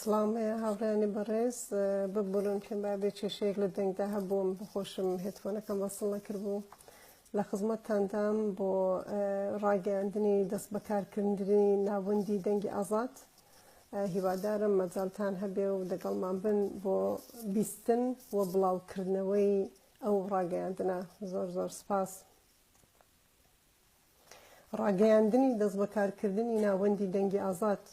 سڵام هاوڕیانی بەڕێز ببورن کە با بێ کێشەیەک لە دەنگدا هەبووم بخۆشم هێتفۆنەکەم وەسڵ نەکردبوو لە خزمەتتاندام بۆ ڕاگەیاندنی دەست بەکارکردنی ناوەندی دەنگی ئازاد هیوادارم مەجالتان هەبێ و دەگەڵمان بن بۆ بیستن و بڵاوکردنەوەی ئەو ڕاگەیاندنە زۆر زۆر سپاس. ڕاگەیاندنی دەستبەکارکردنی ناوەندی دەنگی ئازاد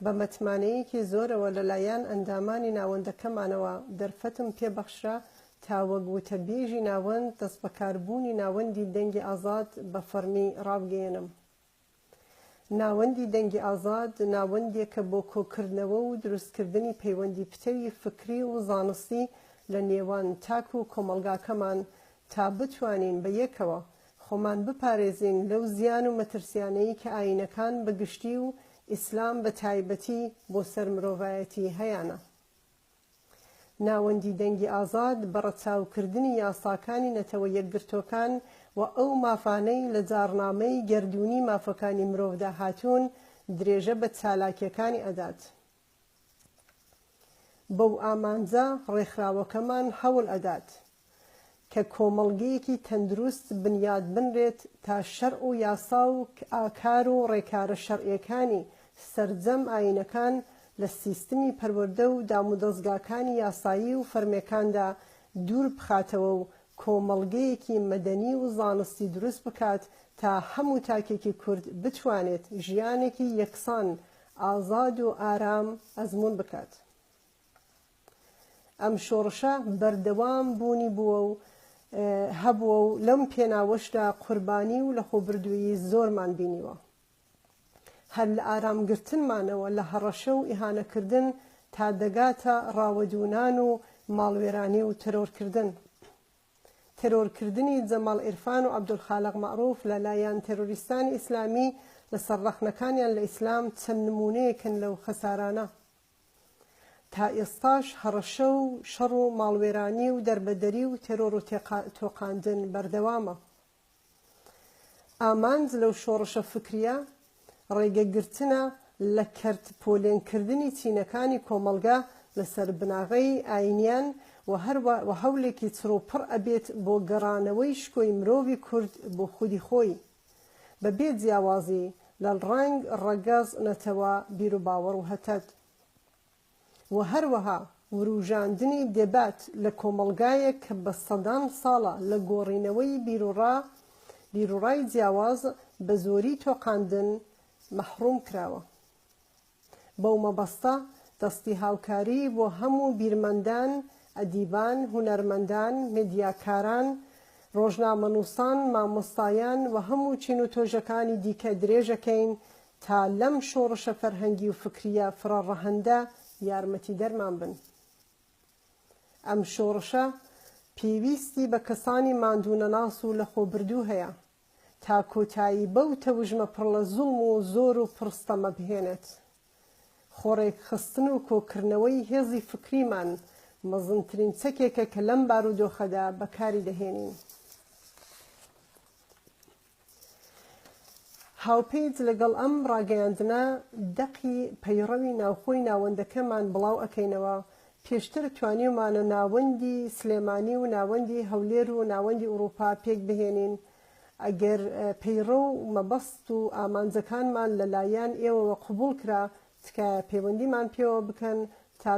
بە مەتمانەیەکی زۆرەوە لەلایەن ئەندامانی ناوەندەکەمانەوە دەرفەتم پێ بەخشرا تا وەک وتەبێژی ناوەند دەستبەکاربوونی ناوەندی دەنگی ئازاد بە فەڕمی ڕابگەیەنم. ناوەندی دەنگی ئازاد ناوەندێکە بۆ کۆکردنەوە و دروستکردنی پەیوەندی پتەوی فکری و زانستی لە نێوان تاک و کۆمەڵگاکەمان تا بتوانین بە یەکەوە خۆمان بپارێزین لەو زیان و مەترسیانەی کە ئایینەکان بە گشتی و ئیسلام بە تایبەتی بۆ سەر مرۆڤایەتی هەیانە. ناوەندی دەنگی ئازاد بە ڕەچاوکردنی یاساکانی نەتەوە یەکگرتووەکان و ئەو مافانەی لە جاڕنامەی گەردوونی مافەکانی مرۆڤدا هاتوون، درێژە بە چالاکییەکانی ئەدات. بەو ئامانجە ڕێکخراوەکەمان هەوڵ ئەدات کە کۆمەڵگەیەکی تەندروست بنیات بنرێت تا شەرع و یاسا و ئاکار و ڕێکارە شەرعیەکانی سەرجەم ئاینەکان لە سیستمی پەروەردە و دامودەزگاکانی یاسایی و فەرمیەکاندا دوور بخاتەوە و کۆمەڵگەیەکی مەدەنی و زانستی دروست بکات تا هەموو تاکێکی کورد بتوانێت ژیانێکی یەکسان ئازاد و ئارام ئەزموون بکات. ئەم شۆڕشە بەردەوام بوونی بووە و هەبووە و لەم پێناوەشدا قوربانی و لەخۆبردوویی زۆرمان بینیوە. هەر لە ئارامگرتنمانەوە لە هەڕەشە و ئیهانەکردن تا دەگاتە ڕاوەدوونان و ماڵوێرانی و تەرۆرکردن. تێرۆرکردنی جەماڵ عیرفان و عەبدولخالەق مەعروف لە لایان تێرۆریستانی ئیسلامی لە سەر ڕەخنەکانیان لە ئیسلام چەند نموونەیەکن لەو خەسارانە تا ئێستاش هەڕەشە و شەڕ و ماڵوێرانی و دەربەدەری و تێرۆر و تۆقاندن بەردەوامە. ئامانج لەو شۆڕشە فکرییە ڕێگەگرتنە لە کەرت پۆلێنکردنی چینەکانی کۆمەڵگە لەسەر بناغەی ئاینیان و هەروە هەولێکی چڕوپڕ ئەبێت بۆ گەڕانەوەی شکۆی مرۆڤی کورد بۆ خودی خۆی بە بێ جیاوازی لە ڕەنگ، ڕەگەز، نەتەوە، بیروباوەڕ و هتد. و هەروەها وروژاندنی دێبات لە کۆمەڵگایەک کە بە سەدان ساڵە لە گۆڕینەوەی بیروڕا بیروڕای جیاواز بە زۆری تۆقاندن مەحڕوم کراوە. بەو مەبەستە دەستی هاوکاری بۆ هەموو بیرمەندان، ئەدیبان، هونەرمەندان، مێدیاکاران، ڕۆژنامەنووسان، مامۆستایان و هەموو چین و تۆژەکانی دیکە درێژەکەین تا لەم شۆڕشە فەرهەنگی و فکریە فرە ڕەهەندە یارمەتیدەرمان بن. ئەم شۆڕشە پێویستی بە کەسانی ماندوونەناس و لەخۆبردوو هەیە تا کۆتایی بەو تەوژمە پڕ لە زوڵم و زۆر و پڕ ستەمە بهێنێت. خۆڕێکخستن و کۆکردنەوەی هێزی فکریمان مەزنترین چەکێکە کە لەم بارودۆخەدا بەکاری دەهێنین. هاوپیج لەگەڵ ئەم ڕاگەیاندنە دەقی پەیڕەوی ناوخۆی ناوەندەکەمان بڵاو ئەکەینەوە، پێشتر توانیومانە ناوەندی سلێمانی و ناوەندی هەولێر و ناوەندی ئوڕووپا پێک بهێنین، ئەگەر پەیڕەو و مەبەست و ئامانجەکانمان لە لایان ئێوەوە قبووڵ کرا تکایە پەیوەندیمان پێوە بکەن تا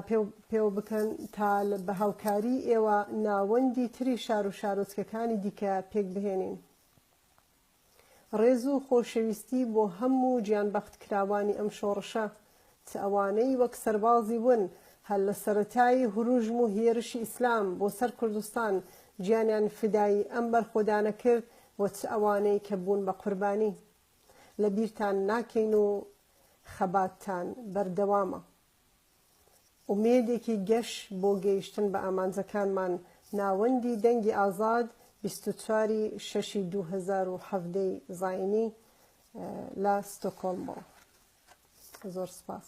پێوە بکەن تا بە هاوکاری ئێوە ناوەندی تری شار و شارۆچکەکانی دیکە پێک بهێنین. ڕێز و خۆشەویستی بۆ هە موو گیان بە ختکراوانی ئەم شۆڕشە چ ئەوانەی وەک سەربازی ون هەر لە سەرەتای هرووژم و هێرشی ئیسلام بۆ سەر کوردستان گیانیان فیدایی ئەم بەرخۆدانە کرد و چ ئەوانەی کە بوون بە قوربانی لە بیرتان ناکەین و خەباتتان بەردەوامە. ئومێدێکی گەش بۆ گەیشتن بە ئامانجەکانمان، ناوەندی دەنگی ئازاد، بیست و چوار ی شەشی دوو هەزار و حەڤدە ی زایینی لە ستۆکۆڵمەوە. زۆر سپاس.